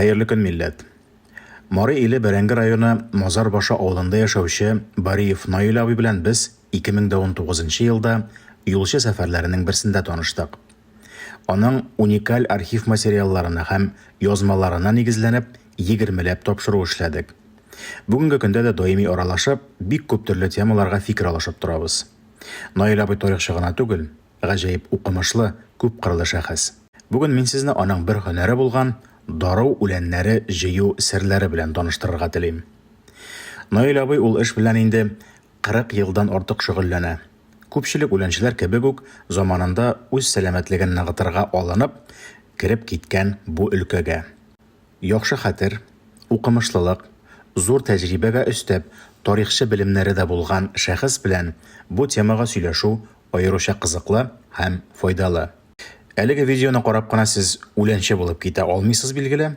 Хәерле көн, милләт! Мары иле Бәрәңге районы Мазар башы авылында яшәүче Бариев Наил абый белән без 2019 елда юлчы сәфәрләренең берсендә таныштык. Аның уникаль архив материалларына һәм язмаларына нигезләнеп, егермеләп тапшыру эшләдек. Бүгенге көндә дә даими аралашып, бик күп төрле темаларга фикер алышып торабыз. Наил абый тарихчы гына түгел, гаҗәеп укымышлы, күпкырлы шәхес. Бүген мин сезне аның бер һөнәре булган дару үләннәре җыю серләре белән таныштырырга телим. Наил абый ул эш белән инде 40 елдан артык шөгыльләнә. Күпчелек үләнчеләр кебек үк, заманында үз сәламәтлеген ныгытырга алынып, кереп киткән бу өлкәгә. Яхшы хәтер, укымышлылык, зур тәҗрибәгә өстәп, тарихчы белемнәре дә булган шәхес белән бу темага сөйләшү аеруча кызыклы һәм файдалы. Әлеге видеоны карап кына сез үләнче булып китә алмыйсыз, билгеле,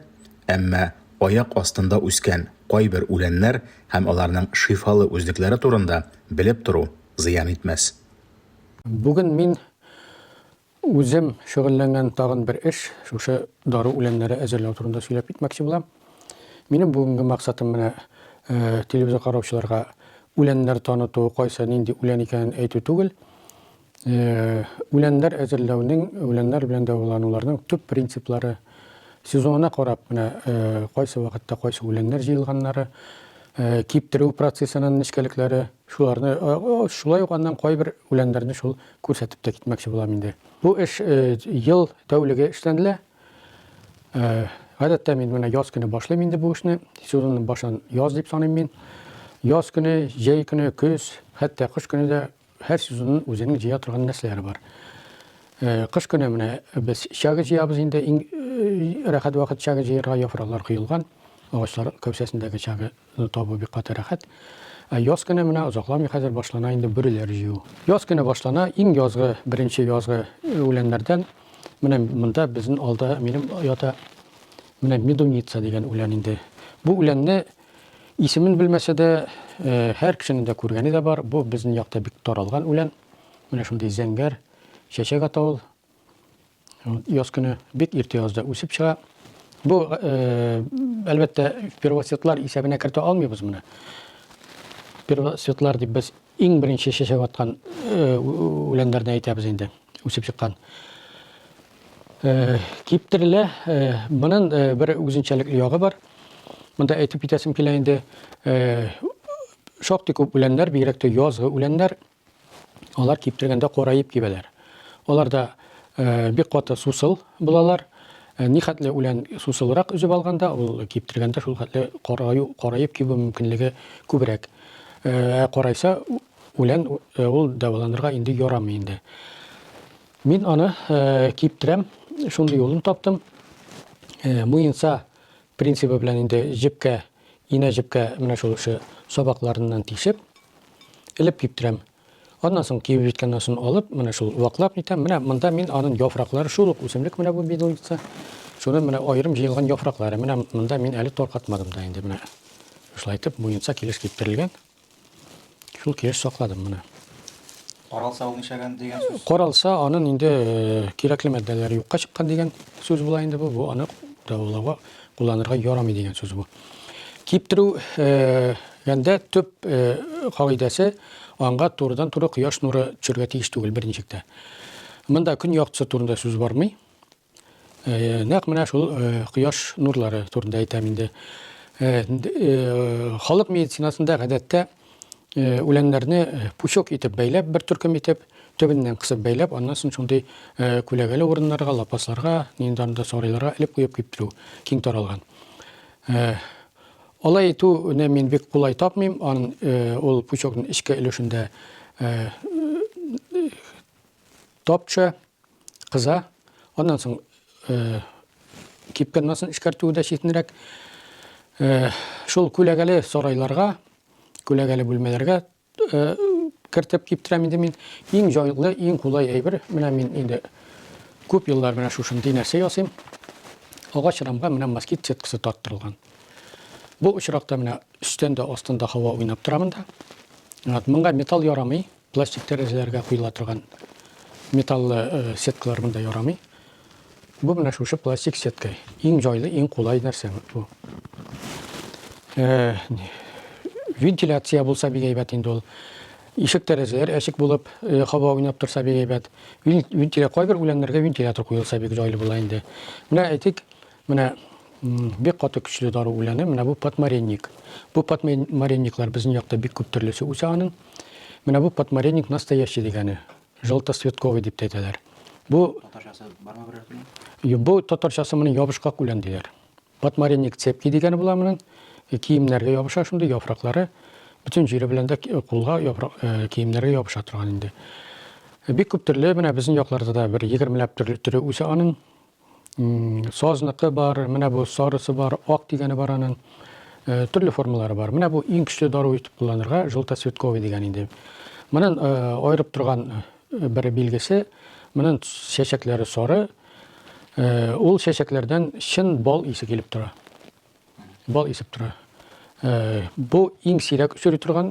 әмма Аяк астында үскән кайбер үләннәр һәм аларның шифалы үзлекләре турында белеп тору зыян итмәс. Бүген мин үзем шөгыльләнгән тагын бер эш, шушы дару үләннәре әзерләү турында сөйләп китмәкче булам. Минем бүгенге максатым менә телевизор караучыларга үләннәр таныту, кайсы нинди үлән икәнен әйтү түгел. үләннәр әзерләүнең, үләннәр белән дәвалануларның төп принциплары сезонына карап менә кайсы вакытта кайсы үләннәр җыелганнары, киптерү процессының нечкәлекләре, шуларны шулай ук аннан кайбер үләннәрне шул күрсәтеп тә китмәкче булам инде. Бу эш ел тәүлеге эшләнелә. Гадәттә мин менә яз көне башлыйм инде бу эшне. Сезонның башын яз дип саныйм мин. Яз көне, җәй көне, көз, хәтта кыш көне дә Һәр сезонның үзенең җыя торган нәрсәләре бар. Кыш көне менә без чага җыябыз инде, иң рәхәт вакыт чага җыярга, яфраклар коелган, агачлар кәүсәсендәге чага табу бик каты рәхәт. Ә яз көне менә озакламый хәзер башлана инде бүреләр җыю. Яз көне башлана, иң язгы, беренче язгы үләннәрдән менә монда безнең алда минем ята менә медуница дигән үлән инде. Бу үләнне Исемен белмәсә дә, һәр кешенең дә күргәне дә бар. Бу безнең якта бик таралган үлән. Менә шундый зәңгәр чәчәк ата ул. Яз көне бик иртә язда үсеп чыга. Бу, әлбәттә, первоцветлар исәбенә кертә алмыйбыз моны. Первоцветлар дип без Иң беренче чәчәк аткан үләннәрне әйтәбез инде, үсеп чыккан. Киптерелә, моның бер үзенчәлекле ягы бар. Монда әйтеп китәсем килә инде, шактый күп үләннәр, бигрәк тә язгы үләннәр, алар киптергәндә караеп кибәләр. Алар да бик каты сусыл булалар. Ни хәтле үлән сусылрак өзеп алганда, ул киптергәндә шул хәтле караю, караеп кибү мөмкинлеге күбрәк. Ә карайса, үлән ул дәваланырга инде ярамый инде. Мин аны киптерәм, шундый юлын таптым. Муенса принцибы белән инде җепкә, инә җепкә менә шул эше сабакларыннан тишеп, элеп киптерәм. Аннан соң кибеп җиткәннән соң алып, менә шул ваклап итәм. Менә монда мин аның яфраклары, шул ук үсемлек менә бу бедуница. Шуны менә аерым җыелган яфраклары. Менә монда мин әле таркатмадым да инде менә. Шулай итеп муенса килеш киптерелгән. Шул килеш сакладым менә. Каралса ул нишәгән дигән сүз? Каралса аның инде э, кирәкле матдәләре юкка чыккан дигән сүз була инде бу. Бу аны дәвалауга кулланырга ярамый дигән сүз бу. Киптерү гәндә төп кагыйдәсе аңга турыдан туры кояш нуры төшәргә тиеш түгел берничектә. Монда көн яктысы турында сүз бармый. Нәкъ менә шул кояш нурлары турында әйтәм инде. Халык медицинасында гадәттә э, үләннәрне э, пучок итеп бәйләп, бер төркем итеп, төбеннән кысып бәйләп, аннан соң шундый э, күләгәле урыннарга, лапасларга, нинди анда сарайларга элеп куеп киптерү киң таралган. Алай итүне мин бик кулай тапмыйм, ан ул пучокның эчке өлешендә топча кыза. Аннан соң э, кипкән масын эшкәртүе дә читенрәк. Э, шул күләгәле сарайларга, күләгәле бүлмәләргә э, кертеп киптерәм инде мин. Иң җайлы, иң кулай әйбер. Менә мин инде күп еллар менә шушындый нәрсә ясыйм. Агач рамга менә москит сеткасы тарттырылган. Бу очракта менә өстән дә астында һава уйнап тора монда. Вот, монда металл ярамый. Пластик тәрәзәләргә куела торган металлы сеткалар монда ярамый. Бу менә шушы пластик сетка. Иң җайлы, иң кулай нәрсә бу. Э, вентиляция булса бик әйбәт инде ул. Ишек тәрәзәләр әчек булып, э, һава уйнап торса бик әйбәт. Вентиля кайбер үләннәргә вентилятор куелса бик җайлы була инде. Менә әйтик, Менә бик каты көчле дару үләне, менә бу подмаренник. Бу подмаренниклар безнең якта бик күп төрлесе үсә аның. Менә бу подмаренник настоящий дигәне, желтоцветковый дип әйтәләр. Бу татарчасы бармы берәр кенә? Бу татарчасы моны ябышкак үлән диләр. Подмаренник цепки дигәне була моның. Э, киемнәргә ябыша шундый яфраклары. Бөтен җире белән дә э, кулга яфрак э, киемнәргә ябыша торган инде. Бик күп төрле менә безнең якларда да бер 20 ләп төрле төре үсә аның. Сазныкы бар, менә бу сарысы бар, ак дигәне бар аның. Э, төрле формалары бар. Менә бу иң көчле дару итеп кулланырга желтоцветковый дигән инде. Монын э, аерып торган э, бер билгесе, монын чәчәкләре сары. Ул чәчәкләрдән чын бал исе килеп тора. Бал исеп тора. Бу иң сирәк өсери торган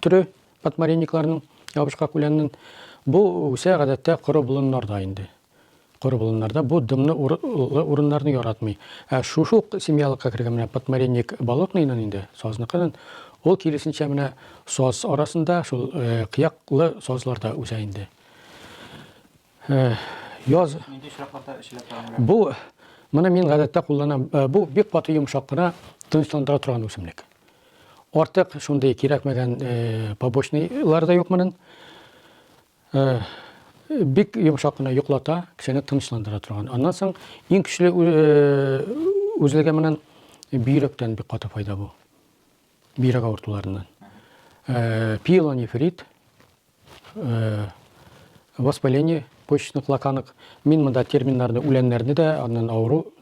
төре подмаренникларның, ябышкак үләннең. Бу үсә гадәттә коры болыннарда инде. Коры болыннарда бу дымны урыннарны яратмый. Ә шушы ук семьялыкка кергән менә подмаренник болотныйның инде, сазныкының, ул киресенчә менә саз арасында, шул кыяклы сазларда үсә инде. Яз. Нинди очракларда эчелә торган? Бу моны мин гадәттә кулланам. Бу бик каты йомшак кына тынычландыра торган үсемлек. Артык шундый кирәкмәгән побочныйлар да юк моның. Бик йомшак кына йоклата, кешене тынычландыра торган. Аннан соң иң көчле үзлеге моның бөйрәктән бик каты файда бу. Бөйрәк авыртуларыннан. Пиелонефрит Воспаление почечных лаканок. Мин монда терминнарны, үләннәрне дә, аннан авыру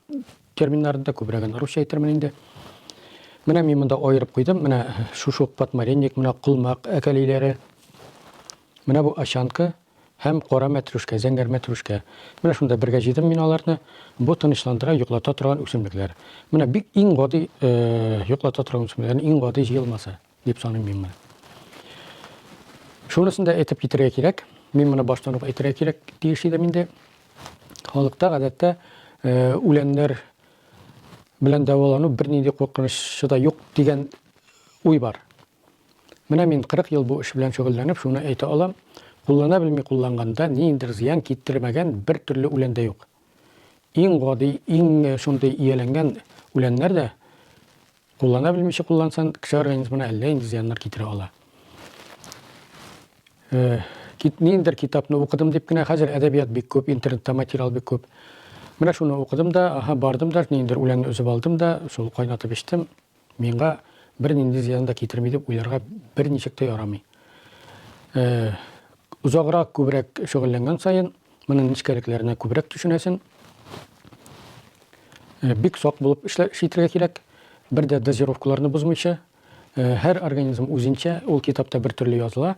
терминнарны да күбрәген русча әйтермен инде. Менә мин монда аерып куйдым. Менә шушук, подмаренник, менә кулмак әкәлиләре. Менә бу ачанка һәм кара мәтрүшкә, зәңгәр мәтрүшкә. Менә шунда бергә җыйдым мин аларны. Бу тынычландыра, йоклата торган үсемлекләр. Менә бик иң гади йоклата торган үсемлекләр, иң гади җыелмасы. дип саныйм мин моны. Шунысын да әйтеп китерергә кирәк. Мин моны баштан ук әйтергә кирәк тиеш идем инде. Халыкта гадәттә э, үләннәр белән дәвалану бернинди куркынычы да юк дигән уй бар. Менә мин 40 ел бу эш белән шөгыльләнеп, шуны әйтә алам. Куллана белми кулланганда ниндер зыян китермәгән бер төрле үлән дә юк. Иң гади, иң э, шундый ияләнгән үләннәр дә Куллана белмичә куллансан, кеше организмына әллә инде зыяннар китерә ала. Кит ниндер китапны укыдым дип кенә хәзер әдәбият бик күп, интернетта материал бик күп. Менә шуны укыдым да, аһа, бардым да, ниндер үләнне өзеп алдым да, шул кайнатып эчтем. Миңа бер нинди зыян да китерми дип уйларга бер ничек тә ярамый. Узаграк күбрәк шөгыльләнгән саен Моның нечкәлекләренә күбрәк төшенәсен. Э, бик сак булып эшлә шитергә кирәк. Бер дә дозировкаларны бозмыйча. Э, һәр организм үзенчә, ул китапта бер төрле языла.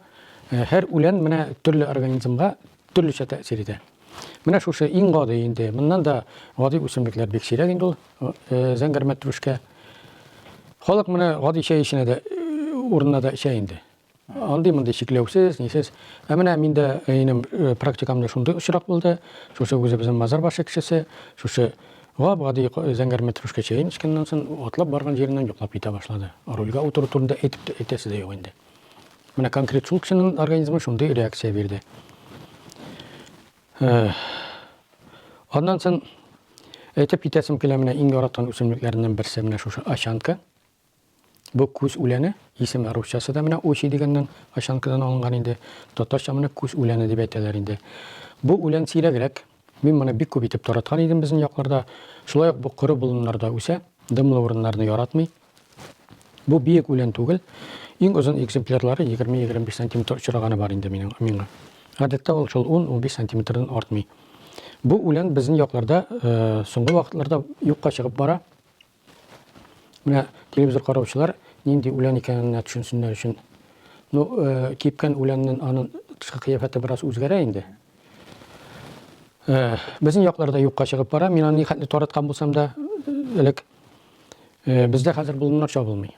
Э, һәр үлән менә төрле организмга төрлечә тәэсир итә. Менә шушы иң гади инде. Моннан да гади үсемлекләр бик сирәк инде ул зәңгәрмәт түшкә. Халык менә гади чәй эченә дә урынына да эчә инде. Андый-мондый чикләүсез, нисез. Ә менә мин дә инем практикамда шундый очрак булды. Шушы үзебезнең Мазар башы кешесе, шушы гап-гади зәңгәр метрушка чәен эчкәннән соң, атлап барган җиреннән йоклап китә башлады. Рульгә утыру турында әйтеп тә, әйтәсе дә юк инде. Менә конкрет шул кешенең организмы шундый реакция бирде. Аннан соң әйтеп китәсем килә, менә иң яраткан үсемлекләреннән берсе менә шушы ачанка. Бу күз үләне, исеме русчасы да менә очи дигәннән, очанкадан алынган инде, татарча моны күз үләне дип әйтәләр инде. Бу үлән сирәгрәк, мин моны бик күп итеп тараткан идем безнең якларда. Шулай ук бу коры болыннарда үсә, дымлы урыннарны яратмый. Бу биек үлән түгел, иң озын экземплярлары 20-25 сантиметр очраганы бар инде минем, миңа. Гадәттә ул шул 10-15 сантиметрдан артмый. Бу үлән безнең якларда соңгы вакытларда юкка чыгып бара. Менә телевизор караучылар нинди үлән икәненә төшенсеннәр өчен. Ну, э, кипкән үләннән аның тышкы кыяфәте бераз үзгәрә инде. Э, безнең якларда юкка чыгып бара. Мин аны хәтле тараткан булсам да, элек э, бездә хәзер болыннар чабылмый.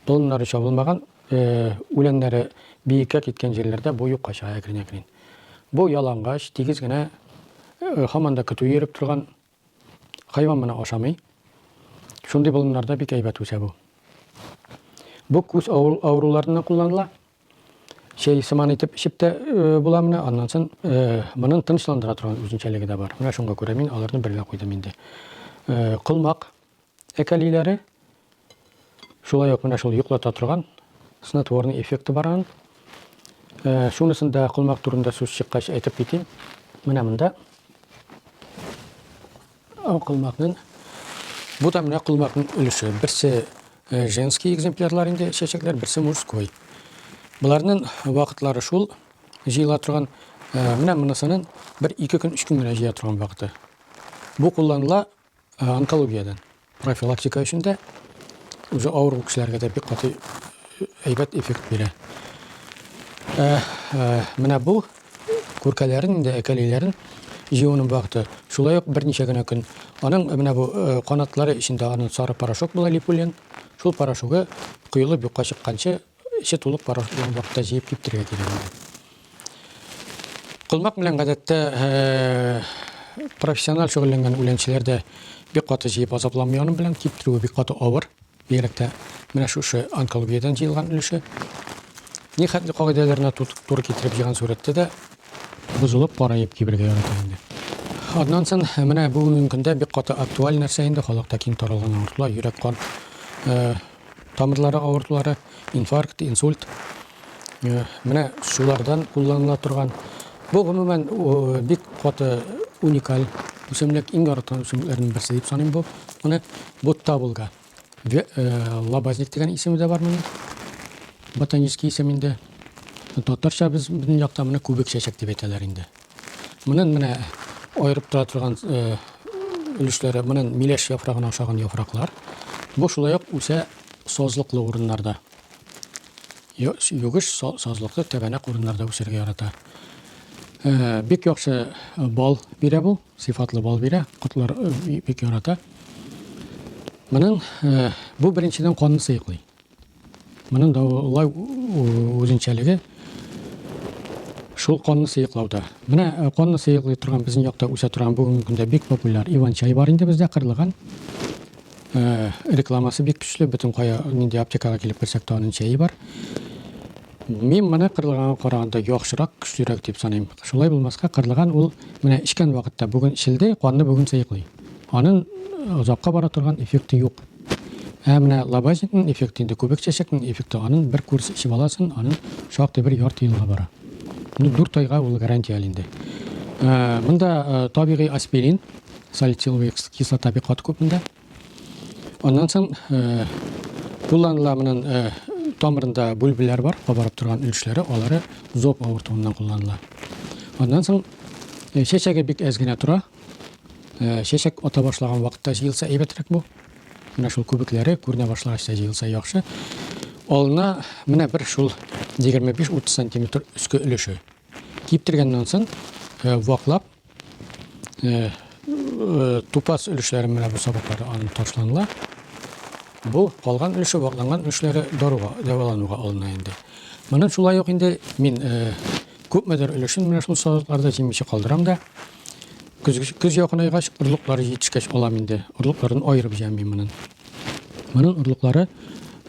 Болыннары чабылмаган, э, үләннәре биеккә киткән җирләрдә бу юкка чыга әкрен-әкрен. Бу ялангач, тигез генә, э, хаманда көтү йөреп торган Хайван моны ашамый. Шундый болыннарда бик әйбәт үсә бу. Бу күз авыруларына кулланыла. Чәй сыман итеп эчеп тә э, була менә. Аннан соң э, моның тынычландыра торган үзенчәлеге дә бар. Менә шуңа күрә мин аларны бергә куйдым инде. Э, колмак Әкәлиләре шулай ук менә шул йоклата торган снотворный эффекты бар аның. Э, шунысын да колмак турында сүз чыккач әйтеп китим. Менә монда колмакның бу да менә колмакның өлеше. Берсе э, женский экземплярлар инде чәчәкләр, берсе мужской. Боларның вакытлары шул җыела торган, э, менә монысының бер ике көн, өч көн генә җыя торган вакыты. Бу кулланыла Ә онкологиядән профилактика өчен дә үзе авыр кешеләргә дә бик каты әйбәт эффект бирә. Ә, ә, менә бу күркәләрен инде әкәлиләрен җыюның вакыты. Шулай ук берничә генә көн. Аның менә бу э, канатлары эчендә аның сары порошок була липулин. Шул порошогы коелып юкка чыкканчы Эче тулып барыр дигән вакытта җыеп киптергә кирәк инде. Колмак белән гадәттә профессиональ шөгыльләнгән үләнчеләр дә бик каты җыеп азапланмый аның белән. Киптерүе бик каты авыр. Бигрәк тә менә шушы онкологиядән җыелган өлеше. Нихәтле кагыйдәләренә туры китереп җыйган сурәттә дә бозылып, караеп кибергә ярата инде. Аннан соң менә бүгенге көндә бик каты актуаль нәрсә инде халыкта киң таралган авыртулар, йөрәк-кан тамырлары авыртулары, инфаркт, инсульт. Э, менә шулардан кулланыла торган. Бу гомумән бик каты уникаль үсемлек, иң яраткан үсемлекләрнең берсе дип саныйм бу. Менә бу табылга. Э, лабазник дигән исеме дә бар моның. Ботанический исем инде. Татарча без безнең якта моны күбек чәчәк дип әйтәләр инде. Монын менә аерып тора торган өлешләре, монын миләш яфрагына ошаган яфраклар. Бу шулай ук үсә сазлыклы урыннарда. Югыш сазлыклы тәбәнәк урыннарда үсәргә ярата. Э, бик яхшы э, бал бирә бу, сыйфатлы бал бирә, котлар э, бик ярата. Моның бу беренчедән канны сыеклый. Моның да улай үзенчәлеге шул конны сыеклауда. Менә э, конны сыеклый торган безнең якта үсә торган бүгенге көндә бик популяр иван чай бар инде бездә кырлыган. Э, рекламасы бик көчле, бөтен кая нинди аптекага килеп керсәк тә аның чәе бар. Мин моны кырлыганга караганда яхшырак, көчлерәк дип саныйм. Шулай булмаска, кырлыган ул менә эчкән вакытта бүген эчелде, канны бүген сыеклый. Аның озакка бара торган эффекты юк. Ә менә лабазникның эффекты инде күбек чәчәкнең эффекты аның бер курс эчеп аласын, аның шактый бер ярты елга бара. Ну, дүрт айга ул гарантия инде. Ә, монда ә, табигый аспирин, салициловый кислота бик каты күп монда. Аннан соң ә, кулланыла монын ә, тамырында бүлбеләр бар, кабарып торган өлешләре, алары зоб авыртуыннан кулланыла. Аннан соң чәчәге бик әз генә тора. Э, чәчәк ата башлаган вакытта җыелса әйбәтрәк бу. Менә шул күбекләре күренә башлагач та җыелса яхшы. Алына менә бер шул 25-30 сантиметр өске өлеше. Киптергәннән соң э, ваклап э, тупас өлешләре менә бу сабаклары алынып ташланыла. Бу калган өлеше вакланган өлешләре даруга, дәвалануга алына инде. Моны шулай ук инде мин Күпмедер өлешен менә шул салатларда җимүче калдырам да, көз, көз якынайгач, орлыклары җитешкәч алам инде. Орлыкларын аерып җыям мин моның. Моның орлыклары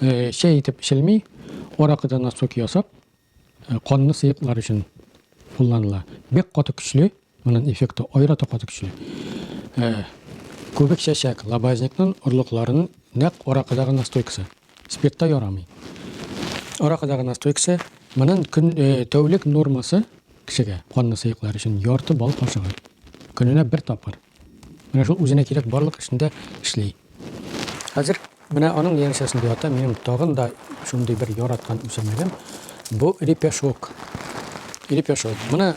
э, чәй итеп эчелми, аракыдан насок ясап, э, канны сыеклар өчен кулланыла. Бик каты көчле, Моның эффекты аерата каты көчле. Ә күбекчәчәк лабазникның орлыкларының нәкъ аракыдагы настойкасы. Спиртта ярамый. Аракыдагы настойкасы, моның көн тәүлек нормасы кешегә, канны сыеклар өчен ярты бал кашыгы. Көненә бер тапкыр. Менә шул үзенә кирәк барлык эшендә эшли. Хәзер менә аның янәшәсендә ята минем тагын да шундый бер яраткан үсемлегем. Бу репешок. Репешок. Моны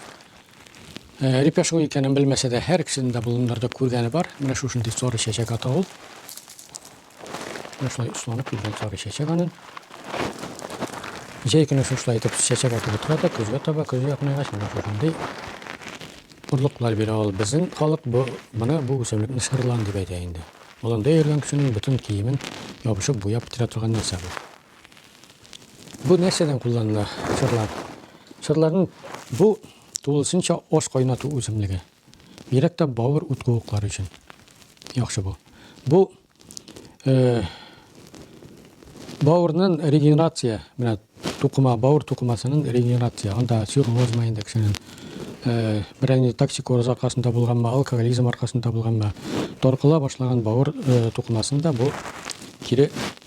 Репья шул икәнен белмәсә дә, һәр кешенең дә болыннарда күргәне бар. Менә шушындый соры чәчәк ата ул. Менә шулай осланып килгән соры чәчәк аның. Җәй көне шушылай итеп чәчәк атып утыра да, көзгә таба, көз якынайгач, менә шушындый орлыклар бирә ул. Безнең халык бу, моны бу үсемлекне шырлан дип әйтә инде. Болында йөргән кешенең бөтен киемен ябышып буяп бетерә торган нәрсә бу. Бу нәрсәдән кулланыла чырлар? Чырларның бу тулысынча аш кайнату үземлеге. Бигрәк тә бавыр ут куыклары өчен яхшы бу. Бу э, бавырның регенерация, менә тукыма, бавыр тукымасының регенерация, анда цирроз ма инде кешенең э, берәр инде токсикоз аркасында булганмы, алкоголизм аркасында булганмы, торкыла башлаган бавыр э, тукымасында бу кире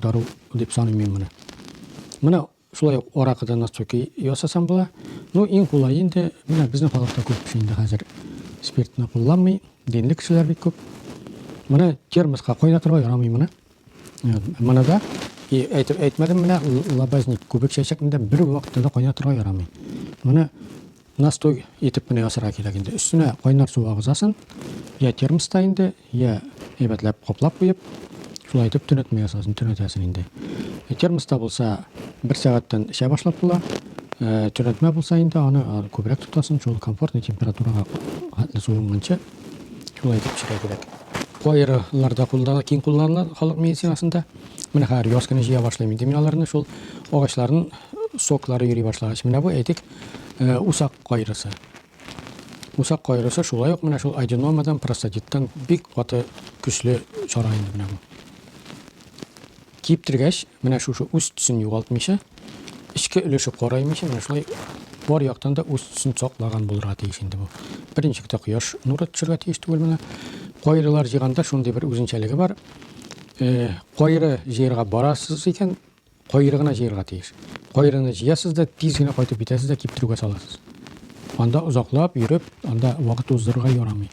дару дип саныйм мин моны. Менә шулай ук аракыдан насцуки ясасам була. Ну, иң кулай инде, менә безнең халыкта күп кеше инде хәзер спиртны кулланмый, динле кешеләр бик күп. Менә термоска кайнатырга ярамый моны. Моны да и әйтеп әйтмәдем менә лабазник күбек чәчәкендә бер вакытта да кайнатырга ярамый. Моны Настой итеп кенә ясарга кирәк инде. Өстенә кайнар су агызасын, я термоста инде, я әйбәтләп каплап куеп, шулай итеп төнәтмә ясасын, төнәтәсен инде. Э, термоста булса, бер сәгатьтән эчә башлап була. Э, төнәтмә булса инде, аны күбрәк тотасын, шул комфортный температурага хәтле суынганчы шулай итеп эчәргә кирәк. Кайрыларда куллана, киң кулланыла халык медицинасында. Менә хәзер яз көне җыя башлыйм инде мин аларны, шул агачларның соклары йөри башлагач, менә бу әйтик, Э, усак кайрысы. Усак кайрысы шулай ук менә шул аденомадан, простатиттан бик каты көчле чара инде менә бу. Киптергәч, менә шушы үз төсен югалтмыйча, эчке өлеше караймыйча, менә шулай бар яктан да үз төсен саклаган булырга тиеш инде бу. Беренче китә кояш нуры төшергә тиеш түгел менә. Кайрылар җиганда шундый бер үзенчәлеге бар. Э, кайры җыерга барасыз икән, Кайры гына җыярга тиеш. Кайрыны җыясыз да, тиз генә кайтып китәсез дә киптерүгә саласыз. Анда озаклап йөреп, анда вакыт уздырырга ярамый.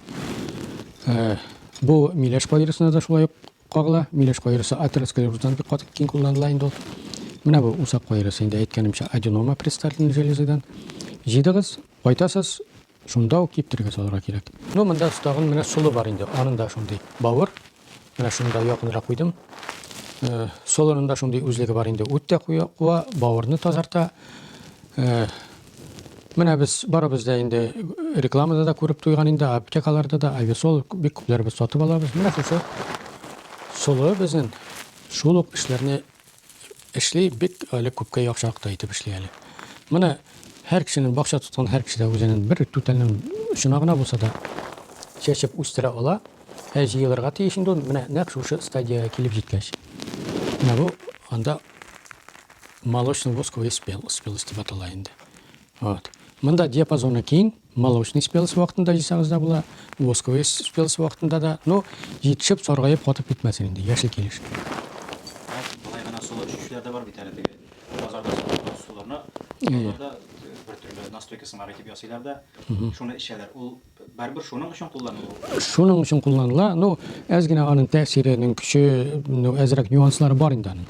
Э, бу миләш кайрысына да шулай ук кагыла. Миләш кайрысы атеросклероздан бик каты киң кулланыла инде ул. Менә бу усак кайрысы инде әйткәнемчә аденома предстательной железадан. Җыйдыгыз, кайтасыз, Шунда ук киптерергә салырга кирәк. Ну, монда тагын менә солы бар инде. Аның да шундый бавыр. Менә шунда якынрак куйдым. Э, Солының да шундый үзлеге бар инде. Үт тә куя, куа, бавырны тазарта. Э, менә без барыбыз да инде рекламада да күреп туйган инде, аптекаларда да Ависол бик күпләребез сатып алабыз. Менә шушы солы безнең шул ук эшләрне эшли, бик әле күпкә яхшырак та итеп эшли әле. Менә һәр кешенең бакча тоткан һәр кеше дә үзенең бер түтәлнең очына гына булса да чәчеп үстерә ала. Ә җыелырга тиеш инде ул менә нәкъ шушы стадиягә килеп җиткәч. Менә бу анда молочный восковый спел, спелость дип атала инде. Вот. Монда диапазоны киң, Молочный спелосы вакытында җыйсагыз да була, восковый спелосы вакытында да. Ну, җитешеп, саргаеп, катып китмәсен инде, яше килеш. Болай гына солы эчүчеләр дә бар бит әле теге базарда сатылган солыларны. Алар да бер төрле настойка сымар итеп ясыйлар да, шуны эчәләр. Ул барыбер шуның өчен кулланыла. Шуның өчен кулланыла. Ну, әз генә аның тәэсиренең көче, ну, әзрәк нюанслары бар инде аның.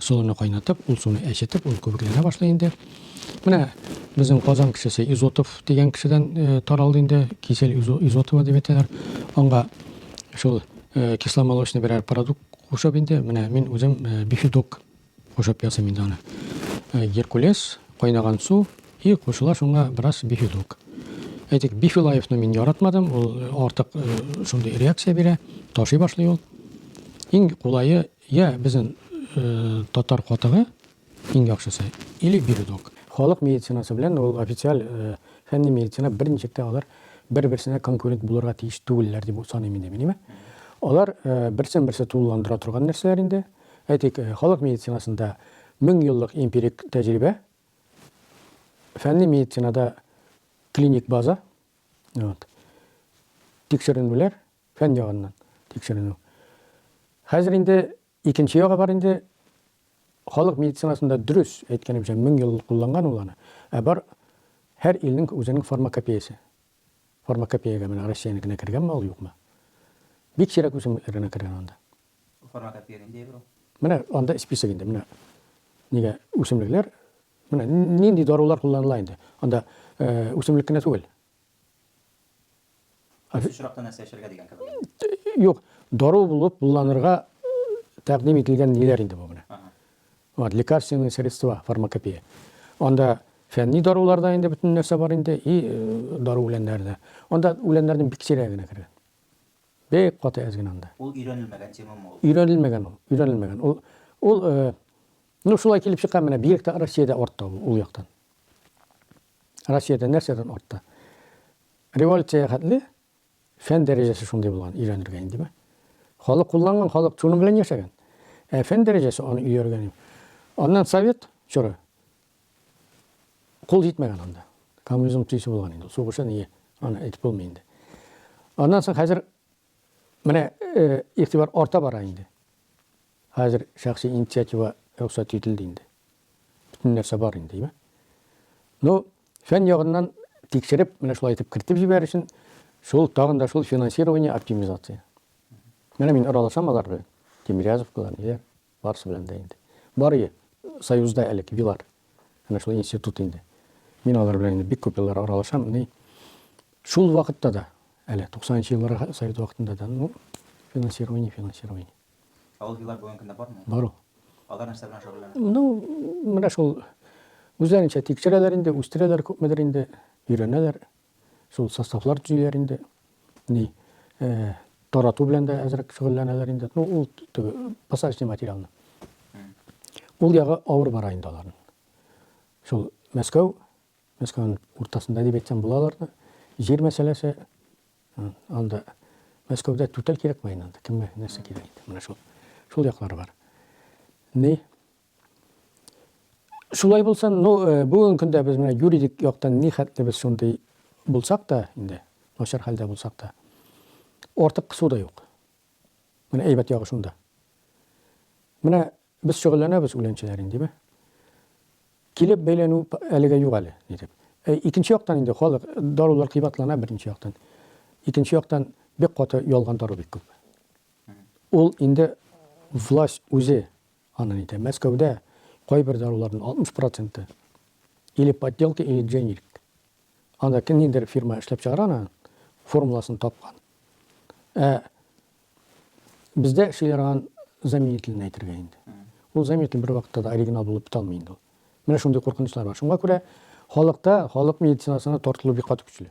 Солыны кайнатып, ул суны әчетеп, ул күбекләнә башлый инде. Менә безнең Казан кешесе Изотов дигән кешедән э, таралды инде, кисель Изотова дип әйтәләр. Аңа шул э, кисломолочный берәр продукт кушып инде, менә мин үзем э, бифидок кушып ясыйм инде аны. Геркулес, кайнаган су и кушыла шуңа бераз бифидок. Әйтик, бифилаевны мин яратмадым, ул артык шундый реакция бирә, ташый башлый ул. Иң кулайы Я безнең татар катыгы иң яхшысы, или бирдок. Халык медицинасы белән ул официаль фәнни медицина берничек тә алар бер-берсенә конкурент булырга тиеш түгелләр дип саныйм инде мин, әйме? Алар берсен-берсе тулыландыра торган нәрсәләр инде. Әйтик, халык медицинасында мең еллык эмпирик тәҗрибә, фәнни медицинада клиник база, вот, тикшеренүләр, Фән ягыннан тикшеренү. Хәзер инде икенче ягы бар инде. Халык медицинасында дөрес, әйткәнемчә, мең ел кулланган ул аны. Ә бар һәр илнең үзенең фармакопеясе. Фармакопеягә менә Россиянекенә кергәнме ул, юкмы? Бик сирәк үсемлекләр генә кергән анда. Бу фармакопея нинди әйбер ул? Менә анда список инде, менә нигә үсемлекләр, менә нинди дарулар кулланыла инде. Анда үсемлек кенә түгел. Кайсы очракта нәрсә эчәргә дигән кебек. Юк, дару булып кулланырга тәкъдим ителгән ниләр инде бу менә. Вот, лекарственные средства, фармакопея. Анда фәнни даруларда инде бөтен нәрсә бар инде и э, дару үләннәрдә. Анда үләннәрнең бик сирәге генә кергән. Бик каты әз генә анда. Ул өйрәнелмәгән темамы ул? Өйрәнелмәгән ул, өйрәнелмәгән. Ул ул э, Ну шулай килеп чыга менә бигрәк тә Россиядә артта ул, ул яктан. Россиядә нәрсәдән артта? Революция хәтле фән дәрәҗәсе шундый булган, өйрәнергә индеме? Халык кулланган, халык шуның белән яшәгән. Ә фән дәрәҗәсе аны өйрәнгән. Аннан совет чоры кул җитмәгән анда. Коммунизм төйсе булган инде. Сугышы ни, аны әйтеп булмый инде. Аннан соң хәзер Менә игътибар арта бара инде. Хәзер шәхси инициатива рөхсәт ителде инде. Бөтен нәрсә бар инде, димә. Ну, фән ягыннан тикшереп, менә шулай итеп кертеп җибәр өчен, шул тагын да шул финансирование оптимизация. Менә мин аралашам алар белән. Тимирязевкалар, ниләр. Барысы белән дә инде. Бар и, Союзда әле кибилар. Әнә шул институт инде. Мин алар белән инде бик күп еллар аралашам. Ни, шул вакытта да, әле 90 нчы елларга Совет вакытында да, ну, финансирование, финансирование. Ә ул җыйлар бүгенге көндә бармы? Бар ул. Алар нәрсә белән шөгыльләнә? Ну, менә шул үзләренчә тикшерәләр инде, үстерәләр күпмедер инде, өйрәнәләр. Шул составлар төзиләр инде. Ни, тарату белән дә әзрәк шөгыльләнәләр инде. Ну, ул теге посадочный материалны. Ул ягы авыр бара инде аларның. Шул Мәскәү, Мәскәүнең уртасында дип әйтсәм була аларны. Җир мәсьәләсе анда Мәскәүдә түтәл кирәкме инде анда? Кемгә нәрсә кирәк инде? Менә шул. Шул яклары бар. Ни, Шулай булса, ну, э, бүгенге көндә без менә юридик яктан ни хәтле без шундый булсак та инде, начар хәлдә булсак та, артык кысу да юк. Менә әйбәт ягы шунда. Менә без шөгыльләнәбез үләнчеләр инде, димә. Килеп бәйләнү әлегә юк әле, дип. Ә икенче яктан инде халык дарулар кыйбатлана беренче яктан. Икенче яктан бик каты ялган дару бик күп. Ул инде власть үзе Аны әйтә. Мәскәүдә кайбер даруларның 60 проценты или подделка, или дженерик. Анда кемнеңдер фирма эшләп чыгара аны, формуласын тапкан. Ә бездә эшли торган заменителен әйтергә инде. Ул заменитель бервакытта да оригинал булып бетә алмый инде ул. Менә шундый куркынычлар бар. Шуңа күрә халыкта халык медицинасына тартылу бик каты көчле.